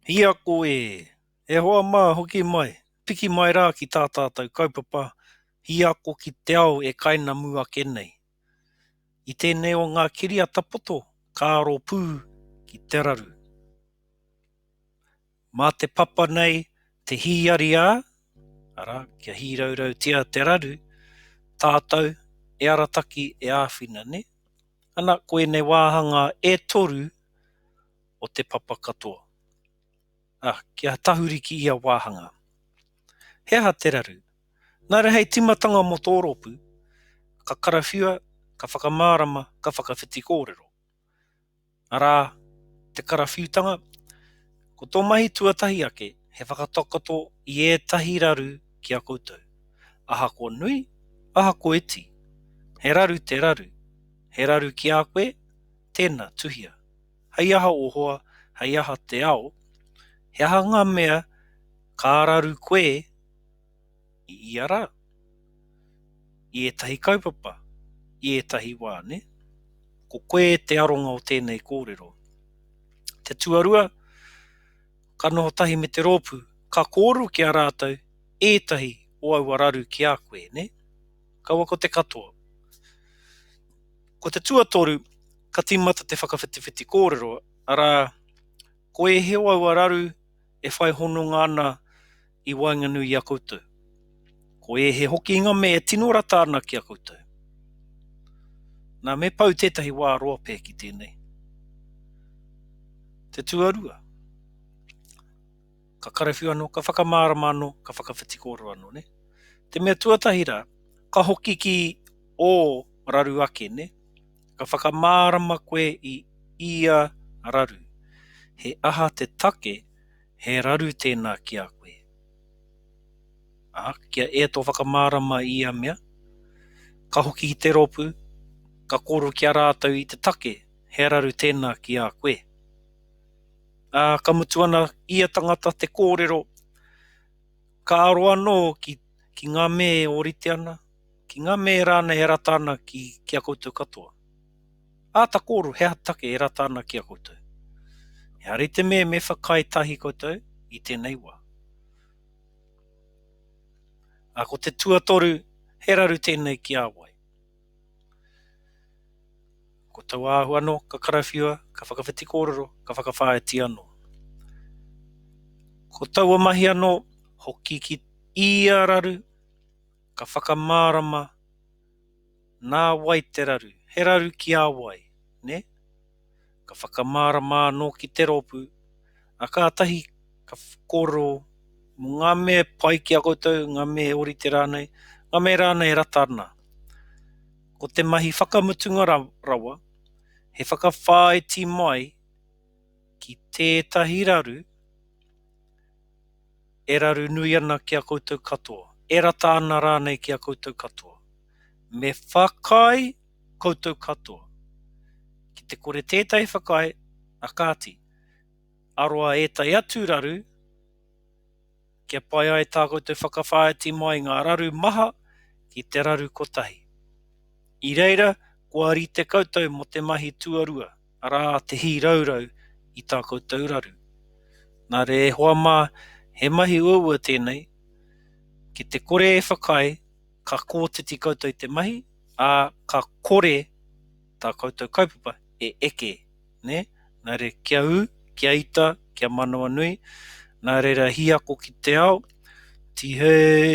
Ia koe! E hoa mā, hoki mai, piki mai rā ki tā tātou kaupapa Hī Ako ki te Ao e kainamu ake nei. I tēnei o ngā kiriata poto ka aro pū ki te raru. Mā te papa nei te hīariā, arā, kia hīraurautia te raru, tātou e arataki, e āwhina, nē? Ana, koinei wāhanga e toru. o te papa katoa. A, kia tahuri ki ia wāhanga. He aha te raru? Nā reira hei tīmatanga mō tō rōpū, ka karawhiua, ka whakamārama, ka whakawhiti kōrero. Arā, te karawhiutanga, ko tō mahi tuatahi ake he whakatakoto i ētahi raru ki a koutou. Ahakoa nui, ahakoa iti, he raru te raru, he raru ki a koe, tēnā, tuhia. Hei aha o hoa, hei aha te ao, he aha nga mea ka raru koe i ia ra? I etahi kaupapa, i etahi wa, ne? Ko koe te aronga o tenei korero. Te tuarua, ka noho tahi me te ropu, ka koru ki a ratou etahi o aua raru ki a koe, ne? Kaua ko te katoa. Ko te tuatoru, ka tīmata te whakawhitiwhiti kōrero, arā, ko e heo aua raru e whai hononga ana i waenganui i a koutou. Ko e he hokinga me e tino rata ana ki a koutou. Nā, me pau tētahi wā roa pē ki tēnei. Te tuarua, ka karawhiu anō, ka whakamārama anō, ka whakawhiti kōrero anō, nē? Te mea tuatahi rā, ka hoki ki O, raru ake, ne? Ka whakamārama koe i ia raru. He aha te take, he raru tēnā ki a koe? Ā, kia e tō whakamārama i ia mea, ka hoki ki te rōpū, ka kōrero ki a rātou i te take, he raru tēnā ki a koe. Ā, ka mutu ana ia tangata te kōrero, ka aro anō ki, ki ngā me ōrite ana, Ki nga me e rana e rata ana ki ki a koutou katoa. Ata koro he aha take e rata ana ki a koutou? Ehara i te me me whakae tahi koutou i tenei wa. A ko te tuatoru he raru tenei ki a wai. Ko tau ahu ano ka karawhiua, ka whakawhiti korero, ka whakawhaiti ano. Ko taua mahi ano hoki ki ia raru. Ka whakamārama, Nā wai te raru? He raru ki a wai, nē? Ka whakamārama anō ki te rōpū, ā, kātahi ka kōrero mō ngā mea e pai ki a koutou, ngā mea e ōrite rānei, ngā mea rānei e rata ana. Ko te mahi whakamutunga rawa, he whakawhāiti mai ki tētahi raru e raru nui ana ki a koutou katoa, e rata ana rānei ki a koutou katoa. Me whakaae koutou katoa. Ki te kore tētahi whakaae, a kāti, aroa ētahi atu raru, kia pai ai tā koutou whakawhāiti mai ngā raru maha ki te raru kotahi. I reira, kua rite koutou mō te mahi tuarua. Arā te hīraurau i tā koutou raru. Nā reira e hoa mā, he mahi uaua tēnei, ki te kore e whakaae, ka kotiti koutou i te mahi, ā, ka kore tā koutou kaupapa e eke, nē? Nā reira, kia ū, kia ita, kia manawanui, nā reira hīako ki te ao, tihei!